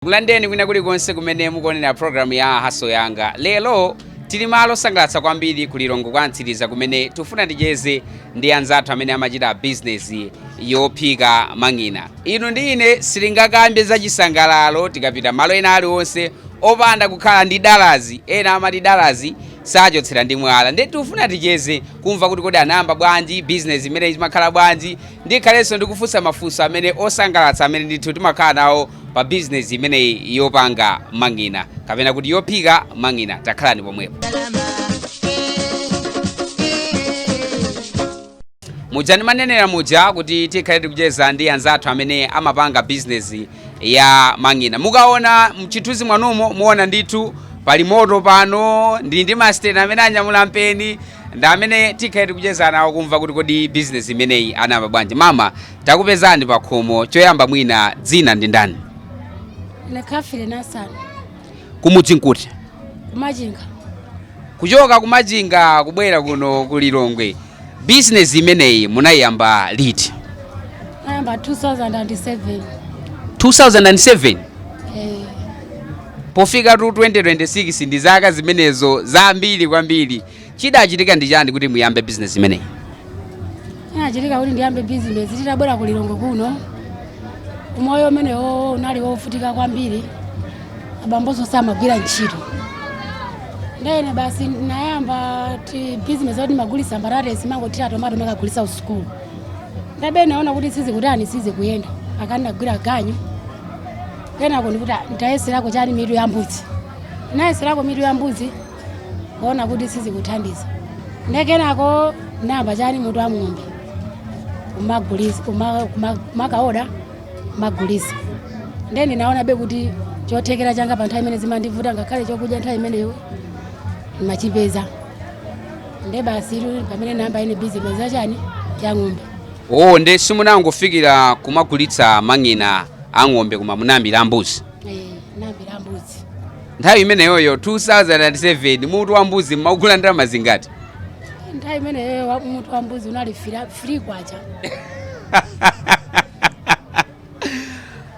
Tikulandireni kwina kulikonse kumene mukuonera programu ya haso yanga lero tili malo osangalatsa kwambiri ku lilongwe kwa mtsiriza kumene tifuna ticheze ndi anzathu amene amachita bizinesi yophika mang'ina inu ndi ine sitingakambe za chisangalalo tikapita malo ena aliwonse opanda kukhala ndi dalazi ena amati dalazi sachotsera ndi mwala ndiye tifuna ticheze kumva kuti kodi anayamba bwanji bizinesi imene imakhala bwanji ndikhalenso ndikufunsa mafunso amene osangalatsa amene ndithu timakhala nawo pa business imeneyi yopanga mang'ina kapena kuti yophika mang'ina takhalani pomwepo muja ndimanenera muja kuti tikhale tikucheza ndi anzathu amene amapanga bizinesi ya mang'ina mukaona mchithunzi mwanumo muona ndithu pali moto pano ndili ndi masiteni amene anyamula mpeni ndi amene tikhale tikucheza nawo kumva kuti kodi bizinesi imeneyi anayamba bwanji mama Takupezani pakhomo, choyamba mwina dzina ndi ndani? Ine Kafile Nasani, Kumudzi nkuti? kumachinga. Kuchoka kumachinga kubwera kuno ku Lilongwe, bizinesi imeneyi munayiyamba liti? Nayamba 2007. 2007 Eh, pofika 2026 ndi zaka zimenezo zambiri kwambiri Chidachitika ndi chani kuti muyambe business imeneyi? Chinachitika kuti ndiyambe business titabwera ku Lilongwe kuno. Umoyo umenewo unali wovutika kwambiri. Abambonso samagwira ntchito. Ndene basi ndinayamba tibusiness toti magulisa mbalale timangoti tomato makagulisa kusukulu. Ndebe naona kuti sizikutani sizikuyenda. Kenako nagwira ganyu. Kenako ndikuti "Ah, ndayeserako chani mitu ya mbuzi. Ndayeserako mitu ya mbuzi. kuona kuti sizikuthandiza nde kenako namba chani mutu wa ng'ombe kumagulisa kuma- kuma- kumakaoda kumagulisa nde ndinaonabe kuti chothekera changa pa nthawi imene zimandivutayo ngakhale chokudya nthawi imeneyo ndimachipeza nde basi ndi pamene namba ine bizinesi yachani ya ng'ombe oo nde simunangofikira kumagulitsa mang'ina a ng'ombe koma munayambira mbuzi nthawi imeneyoyo 2007 mutu wa mbuzi mmaugula ndalama zingati nthawi imeneyo wa- mutu wa mbuzi unali fili- 3 kwacha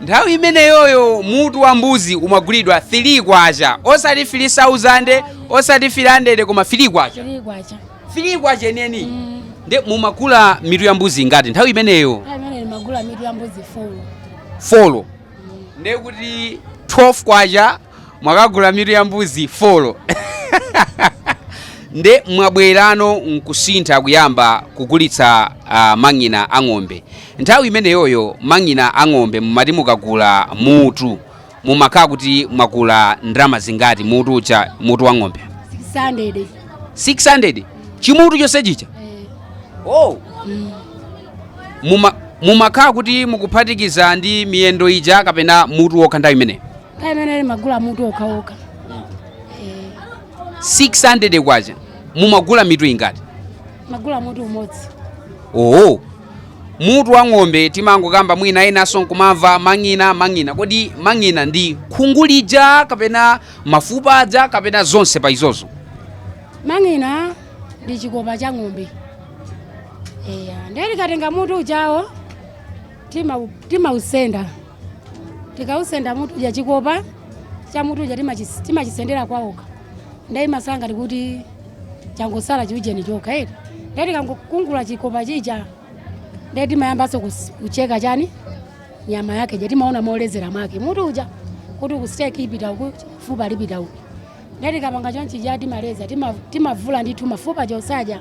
nthawi imeneyoyo mutu wa mbuzi umagulidwa 3 kwacha osati 3000 osati 300 koma 3 kwacha 3 kwacha 3 kwacha enieni Mm. nde mumagula mitu ya mbuzi ingati nthawi imeneyo nthawi imeneyo magula mitu ya mbuzi folo folo ndiye kuti 12 kwacha mwakagula mitu ya mbuzi 4 nde mwabwerano nkusintha kuyamba kugulitsa uh, mang'ina a ng'ombe nthawi imeneyoyo mang'ina a ng'ombe mumati mukagula mutu mumakhala kuti mwagula ndalama zingati mutu uja mutu wa ng'ombe 600 600 chimutu chonse chija eh, oh mm. Muma, mumakhala kuti mukuphatikiza ndi miyendo ija kapena mutu wokha nthawi imeneyo nthawi imene ndimagula mutu wokhawokha Eh, 600 kwacha mumagula mitu ingati ndimagula mutu umodzi oo mutu wa ng'ombe timangokamba mwina enanso nkumamva mang'ina mang'ina kodi mang'ina ndi khungu lija kapena mafupa aja kapena zonse pa izozo mang'ina ndi chikopa cha ng'ombe Eya, ndiye tikatenga mutu ujawo tima- timausenda tikausenda mutu uja chikopa cha mutu uja timachis- timachisendera kwaokha ndiye imasala ngati kuti changosala chiujeni chokha eti ndiye tikangokungula chikopa chija ndiye timayambanso kus- kucheka chani nyama yake ija timaona molekezera mwake mutu uja kuti kusiteki ipita uku fupa lipita uku ndiye tikapanga chonchija timaleza tima- timavula ndithu mafupa chosaja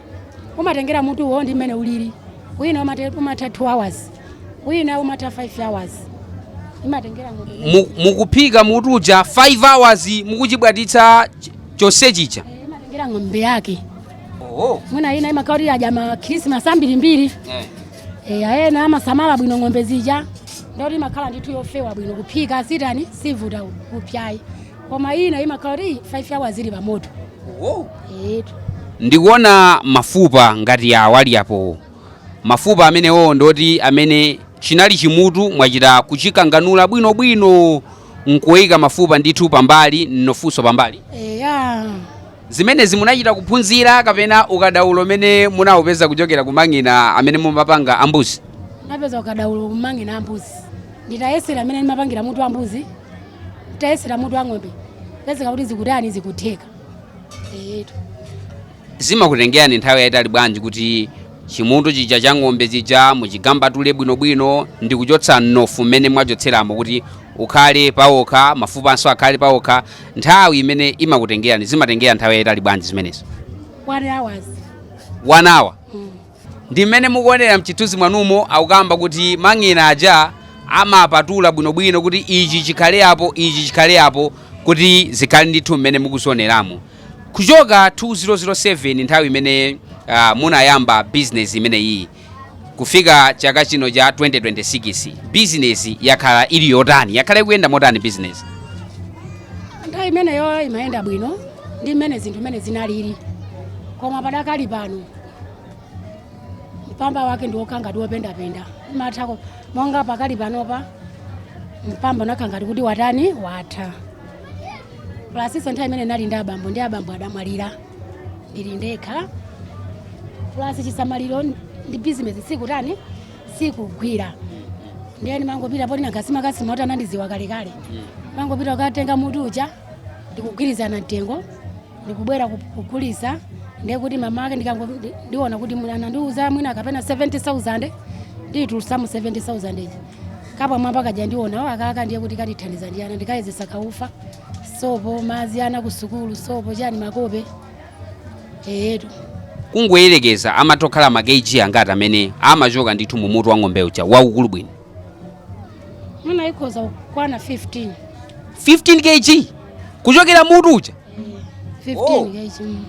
umatengera mutuwo ndi mmene ulili wina umate- umatha 2 hours wina umatha 5 hours imatengera mutu Mu- mukuphika mutu uja 5 hours mukuchibwatitsa ch- chonse chija Eh, imatengera ng'ombe yake oho mwina ina imakhala kuti yadya ma krismas ambirimbiri eh. Eh, ena amasamala bwino ng'ombe zija nde kuti imakhala ndithu yofewa bwino kuphika siitani siivuta kupsa ayi koma ina imakhala kuti 5 hours ili pamoto etu ndikuona mafupa ngati awa ali apowo mafupa amenewo nde kuti amenewo chinali chimutu mwachita kuchikanganula bwinobwino nkuika mafupa ndithu pambali mnofunso pambali eya zimenezi munachita kuphunzira kapena ukadaulo umene munaupeza kuchokera kumang'ina amene mumapanga ambuzi ndinapeza ukadaulo kumang'ina ambuzi nditayesera mmene ndimapangira mutu wa mbuzi tayesera mutu wa ng'ombe pezeka kuti zikutani zikutheka eyetu zimakutengerani nthawi yayitali bwanji kuti chimutu chija cha ng'ombe chija muchigambatule bwinobwino ndi kuchotsa mnofu mmene mwachotseramo kuti ukhale pawokha mafupanso akhale pawokha nthawi imene imakutengerani zimatengera nthawi yayitali bwanji zimenezo one hours one hour Ndi mmene mukuonera mchithunzi mwanumo akukamba kuti mang'ina aja amapatula bwinobwino kuti ichi chikhale apo ichi chikhale apo kuti zikhale ndithu mmene mukuzioneramu. Kuchoka 2007 nthawi imene uh, munayamba business imeneyi kufika chaka chino cha 2026 business yakhala ili yotani yakhala ikuyenda motani business? Nthawi imeneyo imayenda bwino ndi mmene zinthu mmene zinalili koma padakali pano mpamba wake ndi wokhala ngati wopendapenda umatha ku- monga pakali panopa mpamba unakhala ngati kuti watani watha plus-nso nthawi imene ndinali ndi abambo ndi abambo adamwalira ndili ndekha plus chisamaliro ndi bizinesi sikutani sikugwira ndiye ndimangopita poti nagasimagasimota anandiziwa kalekale ndimangopita kukatenga mutu uja ndikugwirizana mtengo ndikubwera ku- kugulisa ndiye kuti mmawa wake ndikango ndi- ndiona kuti mwana anandiuza mwina kapena 70000 ndiyitulutsamo 70000 ija kapa mwamba kaja ndionapo akaka ndiye kuti katithandiza ndi ana ndikayezetsa kaufa sopo madzi ana ku sukulu sopo chani makope eyetu kungoyerekeza amatha kukhala ma kg angati amene amachoka ndithu mu mutu wa ng'ombe uja waukulu bwino mwina ikhoza kukwana 15 15 kg kuchokera mutu uja 15 Oh. kg mm.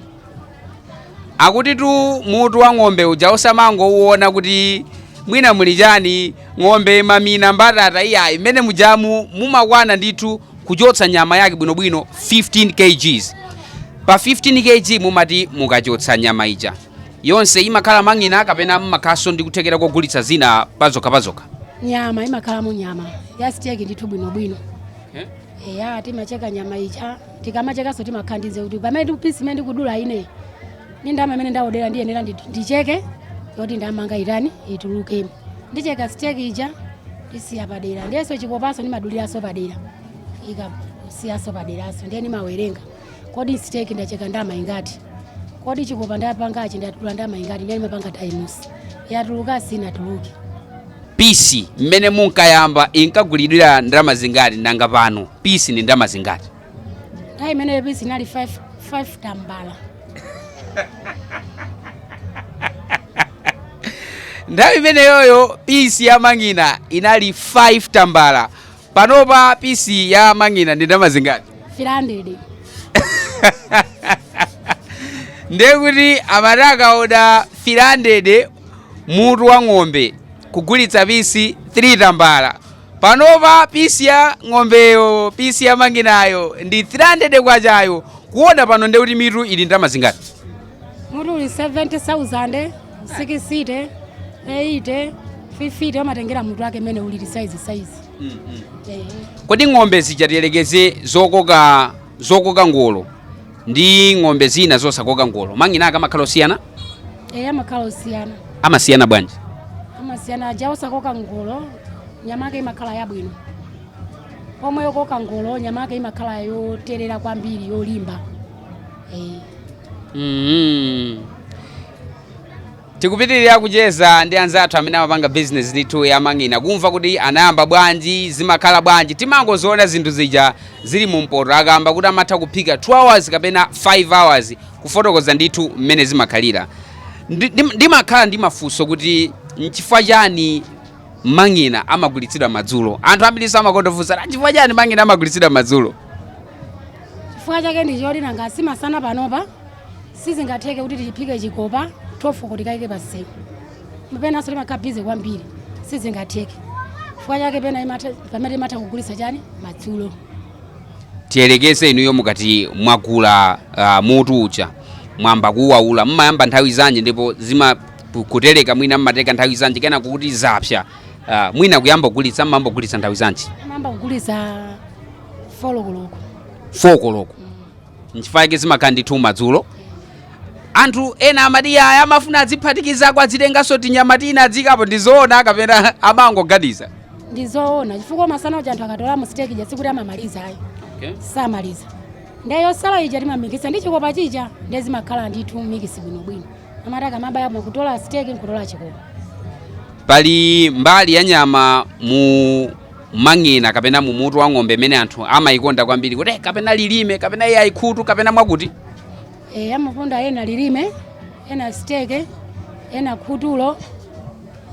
akutitu mutu wa ng'ombe uja musamangouona kuti mwina muli chani ng'ombe mamina mbatata iyayi mmene mujamu mumakwana ndithu kuchotsa nyama yake bwinobwino 15 kgs pa 15 kg mumati mukachotsa nyama ija yonse imakhala mang'ina kapena mumakhalanso ndi kuthekera kogulitsa zina pazokha pazokha nyama imakhalamo nyama yasiteki ndithu bwinobwino Eh? eya timacheka nyama ija tikamachekanso timakhala ndiye kuti pamene pisi imene ndikudula ine ni ndama imene ndaodera ndiye ndiyenera ndi- ndicheke yoti ndama yanga itani itulukemo ndicheka siteki ija ndisiya padera ndiyenso chikopanso ndimaduliranso padera ikasiyanso paderaso ndiye ndimawerenga kodi siteki ndacheka ndama ingati kodi chikopa ndapangachi ndadula ndama ingati ndiye ndimapanga times yatuluka sinatuluke pisi mmene munkayamba inkagulidwira ndalama zingati nanga pano pisi ndi ndalama zingati nthawi imeneyo pisi inali 5 5 tambala nthawi imeneyoyo pisi ya mang'ina inali 5 tambala Panopa pisi ya mang'ina ndi ndalama zingati? 300. ndiye kuti amati akakaoda 300 mutu wa ng'ombe kugulitsa pisi 3 tambala panopa pisi ya ng'ombeyo pisi ya mang'inayo ndi 300 kwachayo kuoda pano ndiye kuti mitu ili ndalama zingati Mutu uli 70,000. sikisite eyite fifite amatengera mutu wake mmene ulili saizi saizi Eh. kodi ng'ombe zija tiyerekeze zokoka zokoka ngolo ndi ng'ombe zina zosakoka ngolo mang'ina ake amakhala osiyana eya amakhala osiyana amasiyana bwanji amasiyana aja osakoka ngolo nyama yake imakhala yabwino pomwe yokoka ngolo nyama yake imakhala yoterera kwambiri yolimba eh. mm. Tikupitirira kucheza ndi anzathu amene amapanga business ndithu yamang'ina kumva kuti anayamba bwanji, zimakhala bwanji. Timangoziona zinthu zija zili mu mpoto. Akamba kuti amatha kuphika 2 hours kapena 5 hours kufotokoza ndithu mmene zimakhalira. Ndi- ndi- Ndimakhala ndi mafunso kuti nchifukwa chani mang'ina amagulitsidwa madzulo? Anthu ambirinso amakondofunsa "Ah, chifukwa chani mang'ina amagulitsidwa madzulo? chifukwa chake ndicho nanga simasana panopa sizingatheke kuti tiphike chikopa 12 kuti kaike paseko penanso timakhala bize kwambiri sizingatheke chifukwa chake pena imatha- pamene imatha kugulitsa chani madzulo tiyerekeze inuyo mukakhala mwagula uh, mutu uja mwamba kuwaula mmayamba nthawi zanji ndipo zima ku- kutereka mwina mmateka nthawi zanji kenako kuti zapsa uh, mwina kuyamba kugulitsa mmamba kugulitsa nthawi zanji amayamba kugulitsa folokoloko fokoloko nchifukwa yake zimakhala ndithu madzulo anthu ena amati ayi amafuna adziphatikizako adzitenganso tinyama tina adzikapo ndizoona kapena amangoganiza ndizoona chifukwa masana uja anthu akatola siteki ija sikuti amamaliza ayi okay. samaliza nde yosala ija timamikisa ndi chikopa chija nde zimakhala ndithu mikisi bwinobwino amati akamabaya mwakutola siteki nkutola chikopa pali mbali ya nyama mu mumang'ina kapena mu mutu wa ng'ombe imene anthu amaikonda kwambiri kuti "Eh, kapena lilime kapena iye ayikhutu kapena mwakuti e, amakonda ena lilime ena siteke ena khutulo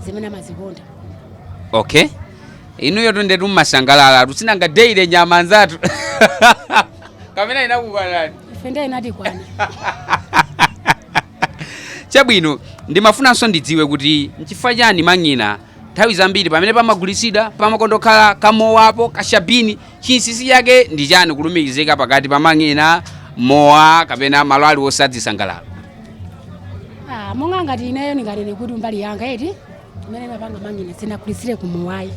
zimene amazikonda okay inuyo ndetu mumasangalalatu sinanga daily nyama anzathu kapena inakukwanani ife ndiye inatikwana chabwino ndimafunanso ndidziwe kuti nchifukwa chani mang'ina Nthawi zambiri pamene pamagulitsidwa pamakondokhala kamowapo, kashabini. Chinsinsi chake ndi chani kulumikizika pakati pa mang'ina, mowa kapena malo aliwonse adzisangalalo? Ah, monga ngati ineyo ndinganene kuti mbali yanga eti imene imapanga mang'ina sindinagulitsire kumowa ayi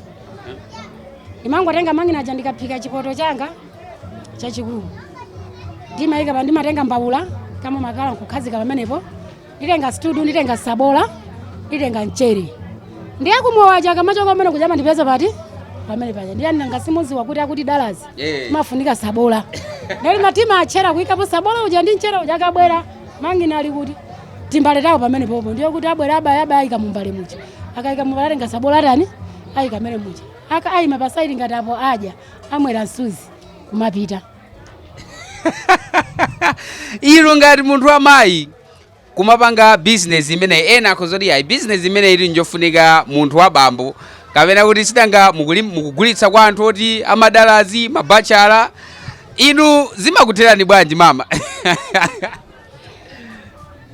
ndimangotenga mang'ina aja ndikaphika chipoto changa chachikulu ndimayika pa ndimatenga mbawula ya makala nkukhazika pamenepo nditenga stuu nditenga sabola nditenga mchere ndiye kumowa shaka machoka umene kuchama ndipeza pati pamene paja ndiye nanga simudziwa kuti akuti dalazi Eh. amafunika sabola nda limati matchera kuyikapo sabola uja ndi mchere uja akabwera mang'ina ali kutimbale tawo pamene popo ndiye kuti abwera abaya abaya ayika mumbale muja akayika mumbale atenga sabola atani ayika mchere muja akayima pasaidi ngati apo adya amwera msuzi nkumapita inu ngati munthu wa mayi kumapanga business imeneyi ena akhoza kuti ayi business imeneyi ili njofunika munthu wa bambo kapena kuti si tanga mukuli- mukugulitsa kwa anthu oti amadalazi mabachala inu zimakutherani bwanji mama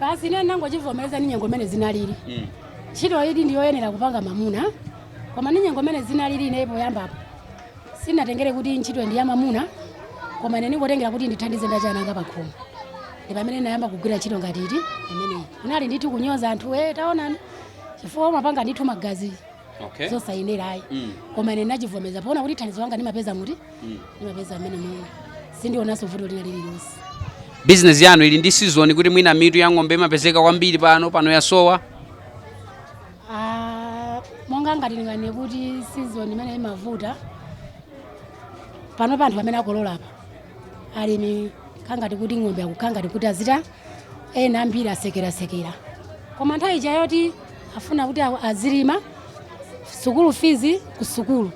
basi ine ndinangochivomereza ni nyengo imene zinalili ntchito iyi ndiyoyenera kupanga mamuna koma ni nyengo imene zinalili ine poyambapo sinatengere kuti ntchitoyi ndi ya mamuna koma ine ndinangotengera kuti ndithandize ndi ana anga pakhomo ndi pamene ndinayamba kugwira ntchito ngati imeneyi kunali ndithu kunyoza anthu e taonani chifukwa mumapanga ndithu magazi okay zosayenera ayi Mm. koma ine ndinachivomeza poona kuti thandizo langa ndimapeza muti Mm. ndimapeza mmenemu ine sindionanso vuto lina lililonse bizinesi yanu ili ndi season kuti mwina mitu ya ng'ombe imapezeka kwambiri pano pano yasowa Ah, monga ngati ndinganene kuti season imene imavuta panopa anthu amene akolola apa alimi kakhala ngati kuti ng'ombe akukhala ngati kuti azina ena ambiri asekerasekera koma nthawi ija yoti afuna kuti a- azilima sukulu fees ku sukulu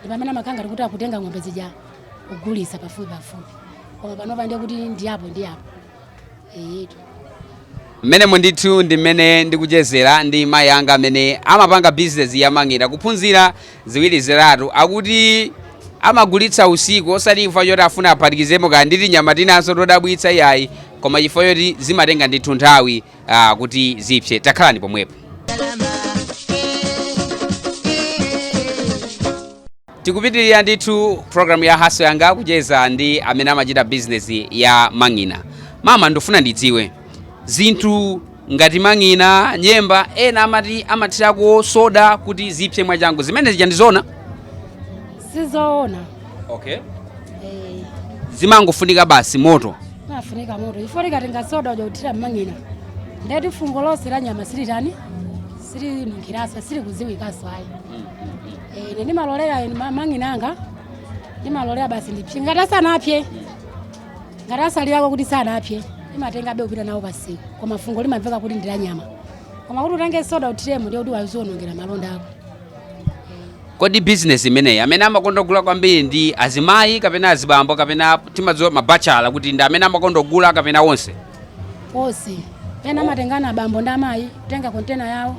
ndi pamene amakhala ngati kuti akutenga ng'ombe zija kugulisa pafupi pafupi koma panopa ndiye kuti ndi apo ndi apo Eyetu. mmenemu ndithu ndi mmene ndikuchezera ndi mayi anga amene amapanga bizinesi yamang'ina kuphunzira ziwiri zitatu akuti amagulitsa usiku osati chifukwa choti afuna aphatikizemo kaya ndi tinyama tinanso todabwitsa iyayi koma chifukwa choti zimatenga ndithu nthawi ah, kuti zipse takhalani pomwepo Tikupitilira ndithu program ya Hustle yanga kucheza ndi amene amachita business ya mang'ina. Mama ndifuna ndidziwe zinthu ngati mang'ina, nyemba ena amathirako soda kuti zipse mwachangu zimenezo ndi zoona? Sizoona. Okay. Eh. Zimangofunika basi moto. Amafunika moto. Ife ukatenga soda uja kuthira mang'ina. Nde kuti fungo lonse la nyama silitani? Sili nkhirasa, sili kudziwikaso ayi. Mm. Eh, ine ndimalolera ine m'ma- mang'ina anga ndimalolera basi ndipse ngati asanapse ngati atsalirako kuti sanapse timatengabe kupita nawo pasiku koma fungo limamveka kuti ndi la nyama koma kuti utenge soda uthiremo ndiye kuti wazionongera malonda ako kodi bizinesi imeneyi amene amakonda kugula kwambiri ndi azimayi kapena azibambo kapena timadziwa mabachala kuti ndi amene amakonda kugula kapena onse konse ena amatengana abambo ndi amayi kutenga kontena yawo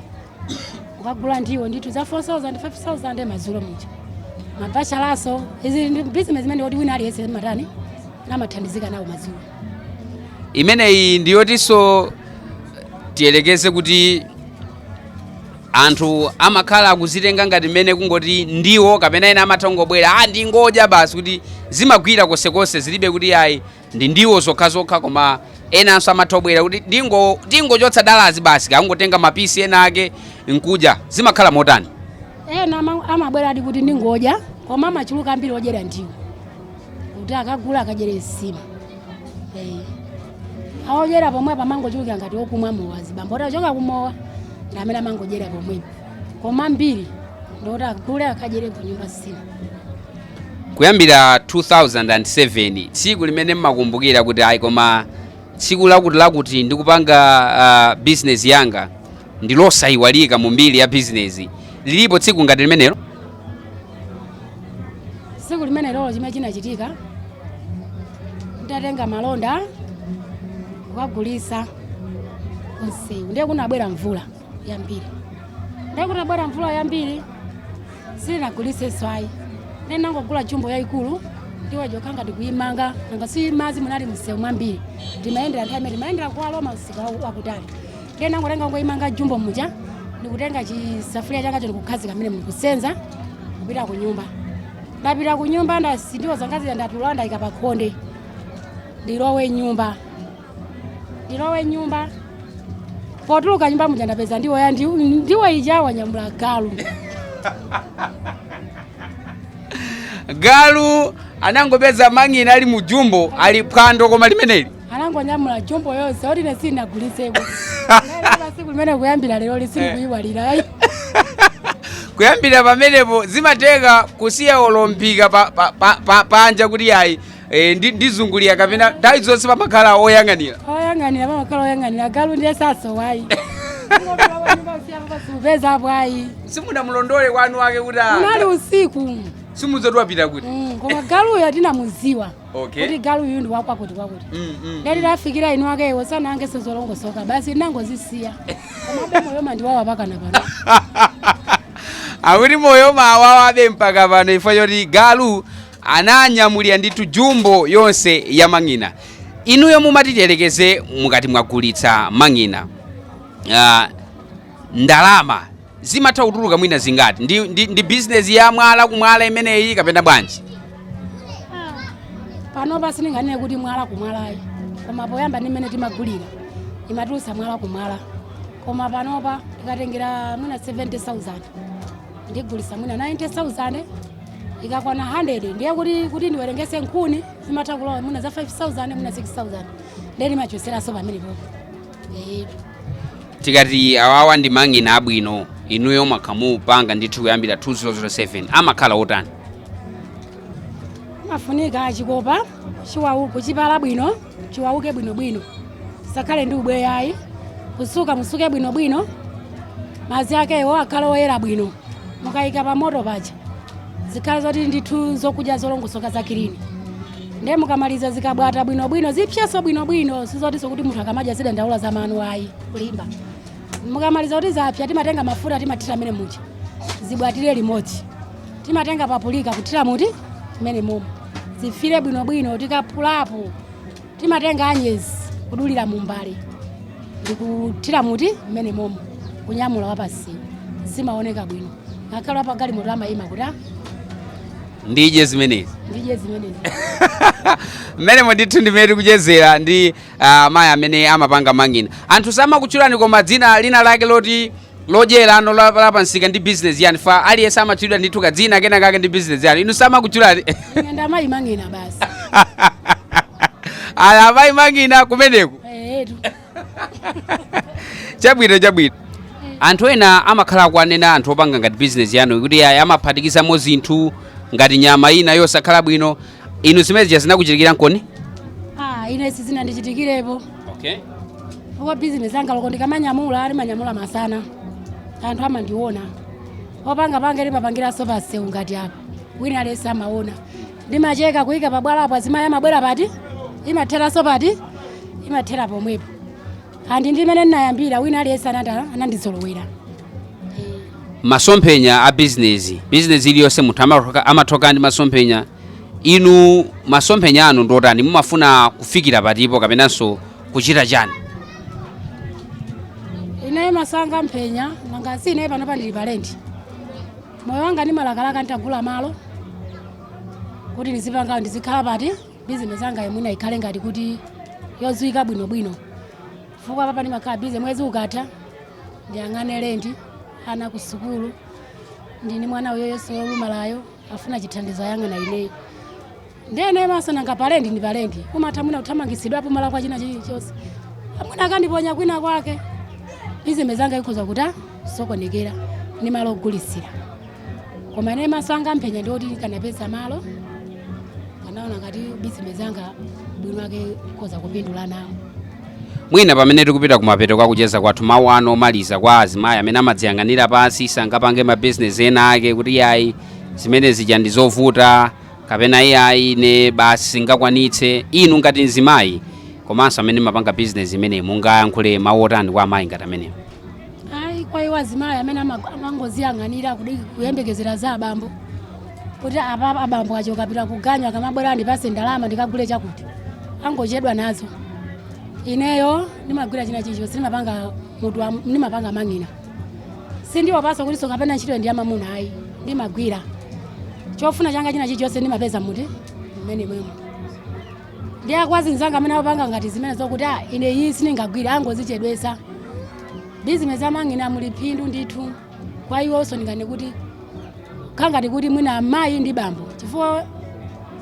akagula ndiwo ndithu za 4000 5000 madzulo muja mabachalanso iyi ndi bizinesi imene kuti wina aliyense matani amathandizika nawo madzulo imeneyi ndiyotinso tiyelekeze kuti anthu amakhala akuzitenga ngati mmene kungoti ndiwo kapena ena amatha kungobwera a ndingodya basi kuti zimagwira konsekonse zilibe kuti ayi ndi ndiwo zokhazokha koma enanso amatha kubwera kuti ndingo- ndingochotsa dalazi basi kungotenga mapisi ena ake nkudya zimakhala motani ena ama- amabweradi kuti ndingodya koma amachuluka ambiri odyera ndiwo kuti akagula akadyere nsima Eh. aodyera pomwepo amangochuluka ngati okumwa mowa azibambo kuti achoka kumowa ndi amene amangodyera pomwepo koma ambiri ndikuti agule akadyere kunyumba nsima kuyambira 2007 tsiku limene mmakumbukira kuti ayi koma tsiku lakuti lakuti ndikupanga uh, bizinesi yanga ndilosayiwalika mu mbiri ya bizinesi lilipo tsiku ngati limenelo tsiku limene lilipo chimene chinachitika ndatenga malonda kukagulitsa mumsewu ndiye kunabwera mvula yambiri ndiye itabwera mvula yambiri sindinagulitse swayi nenangogula jumbo yayikulu ndiwo zija ndangoti kuyimanga nanga si madzi munali mumsewu ambiri ndimayendera nthawi imene ndimayendera kuwaloma msika wa- wakutali ndiye nangotenga kungoyimanga jumbo ija ndikutenga chisafuliya changa choti kukhazika m'menemo kusenza kupita ku nyumba ndapita ku nyumba ndasiya ndiwo zanga zija ndatulula ndayika pa khonde ndilowe m'nyumba ndilowe m'nyumba potuluka m'nyumba muja ndapeza ndiwo ya ndiwo ndiwo ija wanyamula galu galu anangopeza mang'ina ali mu jumbo ali phwando koma limeneli anangonyamula jumbo yonse oti ine sindinagulitseko ndilo tsiku limene kuyambira lero sindikuliyiwala ayi kuyambira pamenepo zimateka kusiya olo m'phika pa- pa- pa- pa- panja kuti ayi Eh, ndi ndizungulia kapena nthawi zonse pamakhala oyang'anira oyang'anira pamakhala oyang'anira galu ndiye sasowa ayi peza bwayi simunamulondole mwini wake kuti ah, unali usiku sizoti wapita kuti Mm, koma galuyo tinamudziwa Okay. kuti galuyu ndi wakwakuti kwakuti Mm, mm. ngati tafikira mwini wake iwo sanange sizolongosoka basi tinangozisiya komabe moyo umandiwawa mpakana pano akuti moyo umawawabe mpaka pano poti galu ananyamulira ndithu jumbo yonse ya mang'ina inuyo mumati tiyerekeze mukati mwagulitsa mang'ina ah, ndalama zimatha kutuluka mwina zingati ndi, ndi, ndi bizinesi ya mwala kumwala imeneyi kapena bwanji panopa sindinganene kuti mwala kumwala ayi koma poyamba ndi mmene timagulira imatulutsa mwala kumwala koma panopa tikatengera mwina 70000 ndigulisa mwina 90000 ikakwana 100 ndiye kuti ndiwerengetse nkhuni zimatha kulowa mwina za 5000 mwina 6000 ndiye ndimachotseranso pamenepo etu tikati awawa ndi mang'ina abwino inuyo mwakhala mukupanga ndithu kuyambira 2007 amakhala otani amafunika chikopa chiwauke chipale bwino chiwauke bwinobwino chisakhale ndi ubweya ayi kusuka musuke bwinobwino madzi akewo akhale oyera bwino mukayika pa moto paja zikhale zoti ndithu zokudya zolongosoka za kilini ndiye mukamaliza zikabwata bwinobwino zipsenso bwinobwino sizotinso kuti munthu akamadya azidandaula za mano ayi kulimba mukamaliza kuti zapsa timatenga mafuta timathira mmene muja zibwatire limodzi timatenga papulika kuthira mmenemo zifiire bwinobwino tikaphulapo timatenga anyezi kudulira mumbale ndikuthira mmenemo kunyamula wapansiyo zimaoneka bwino ngakhale wapagalimoto amayima kuti "Ah, ndidye zimenezi ndidye zimenezi mmenemo ndithu ndi mmene tikuchezera ndi ah, amayi amene amapanga mang'ina anthu samakutchulani koma dzina lina lake loti lodyera inu la, la pamsika ndi business yanu chifukwa aliyense amatchulidwa ndithu kadzina kena kake ndi business yanu inu samakutchulani Nyanda amayi mang'ina basi. ah amayi mang'ina kumeneku Eh, tu. chabwino chabwino anthu ena amakhala akuwanena anthu opanga ngati business yanu kuti ayi amaphatikizamo zinthu ngati nyama ina yosakhala bwino inu zimenezi zinakuchitikiraniponi ah ine sizinandichitikirepo okay. chifukwa bizinesi yanga loko ndikamanyamula ndimanyamula masana anthu amandiona popanga panga ndimapangiranso pamsewu ngati apa wina aliyense amaona ndimacheka kuyika pabwalapo azimayi amabwera pati imatheranso pati imathera pomwepo and ndi mmene ndinayambira wina aliyense anata- anandizolowera masomphenya a bizinesi bizinesi iliyonse munthu amathoka- amathoka ndi masomphenya inu masomphenya anu ndi otani mumafuna kufikira patipo kapenanso kuchita chani ineyo maso anga mphenya nanga si ineyo panopa ndili pa lendi moyo wanga ndimalakalaka nditagula malo kuti ndizipanga ndizikhala pati bizinesi yangayo mwina ikhale ngati kuti yodziwika bwinobwino chifukwa apapa ndimakhala bize mwezi ukatha ndiyang'ane lendi ana ku sukulu ndili ndi mwana uyo iyeso wolumalayo afuna chithandizo ayang'ana ineyo ndiye maso nanga palendi ndi palendi umatha mwina kuthamangitsidwapo malo kaya china chilichonse mwina akandiponya kwina kwake bizinesi yanga ikhoza kusokonekera ndi malo ogulitsira koma ine maso anga amphenya ndi oti nkanapeza malo nkanaona ngati bizinesi yanga mwina mwake ndikhoza kupindula nawo mwina pamene tikupita kumapeto kwa kucheza kwathu mawu anu omaliza kwa azimayi amene amadziyang'anira pansi sangapange mabizinesi ena ake kuti iyayi zimene zija ndi zovuta kapena iyayi ine basi singakwanitse inu ngati mzimayi komanso amene mumapanga bizinesi imeneyi mungayankhule mawu otani kwa amayi ngati amenewo ayi kwa iwo azimayi amene ama- amangoziyang'anira kudi- kuyembekezera za abambo kuti apa abambo achoka apita kuganyu akamabwera andipatse ndalama ndikagule chakuti angochedwa nazo ineyo ndimagwira china chilichonse ndimapanga mutu wa- ndimapanga mang'ina sindiwopanso kutinso kapena ntchitoyi ndi yamamuna ayi ndimagwira chofuna changa china chilichonse ndimapeza muti mmenemo ndiye kwa azinzanga amene akupanga ngati zimenezo kuti ah, ine iyi sindingagwire angozichedwesa bizinesi ya mang'ina muli phindu ndithu kwa iwonso ndinganene kuti kangati kuti mwina amayi ndi bambo chifukwa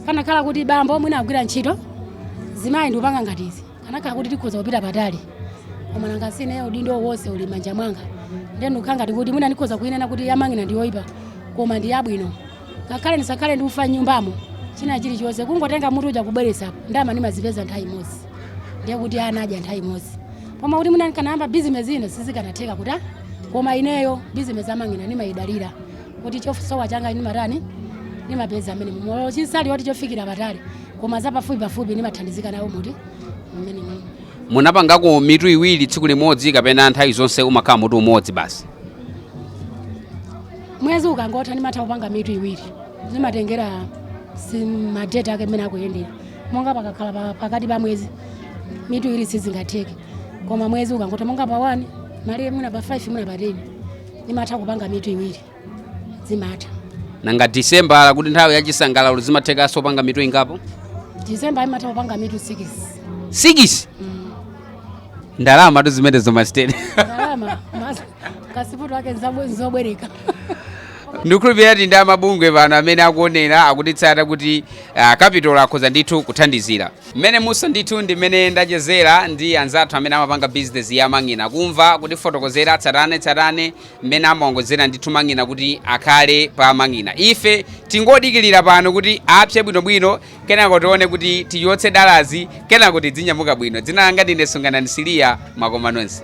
kanakhala kuti bambo mwina akugwira ntchito mzimayi ndikupanga ngati izi kanakhala kuti tikhoza kupita patali koma nanga si ine udindo wonse uli mmanja mwanga ndiye ndikukhala ngati kuti mwina ndikhoza kuyinena kuti yamang'ina ndiyoyipa koma ndi yabwino ngakhale ndisakhale ndi ufa mnyumbamo china chilichonse kungotenga mutu uja kubweresapo ndalama ndimazipeza nthawi imodzi ndiye kuti ana adya nthawi imodzi koma kuti mwina ndikanayamba bizinesi ina sizikanatheka kuti ah, koma ineyo bizinesi ya mang'ina ndimayidalira kuti chosowa changa ndimatani ndimapeza mmenemumo yochisali woti chofikira patali koma zapafupi pafupi ndimathandizika nawo muti mmenemo mmene munapangako mitu iwiri tsiku limodzi kapena nthawi zonse umakhala mutu umodzi basi mwezi ukangotha ndimatha kupanga mitu iwiri zimatengera si- madeti ake mmene akuyendera monga pakakhala pa- pakati pa mwezi mitu iwiri sizingatheke koma mwezi ukangotha monga pa 1 mpaka mwina pa 5 mwina pa 10 ndimatha kupanga mitu iwiri zimatha nanga disemba nanga kuti nthawi ya chisangalalo zimathekanso kupanga mitu ingapo disemba ndimatha kupanga mitu 6 sikisi ndalama tu zimenezo masiteni ndalama mas- kasiputu ake nzabwe- nzobwereka ndikukhulupirira kuti ndi amabungwe ena amene akuonera akutitsatira kuti uh, kapitolo akhoza ndithu kuthandizira mmenemu so ndithu ndi mmene ndachezera ndi anzathu amene amapanga bizinesi ya mang'ina, kumva kutifotokozera tsatane tsatane mmene amaongozera ndithu mang'ina kuti akhale pa mang'ina ife tingodikirira pano kuti apse bwinobwino Kenako tione kuti tichotse dalazi kenako tidzinyamuka bwino. Dzina langa ndine Sunganani Siliya, mwakoma nonse.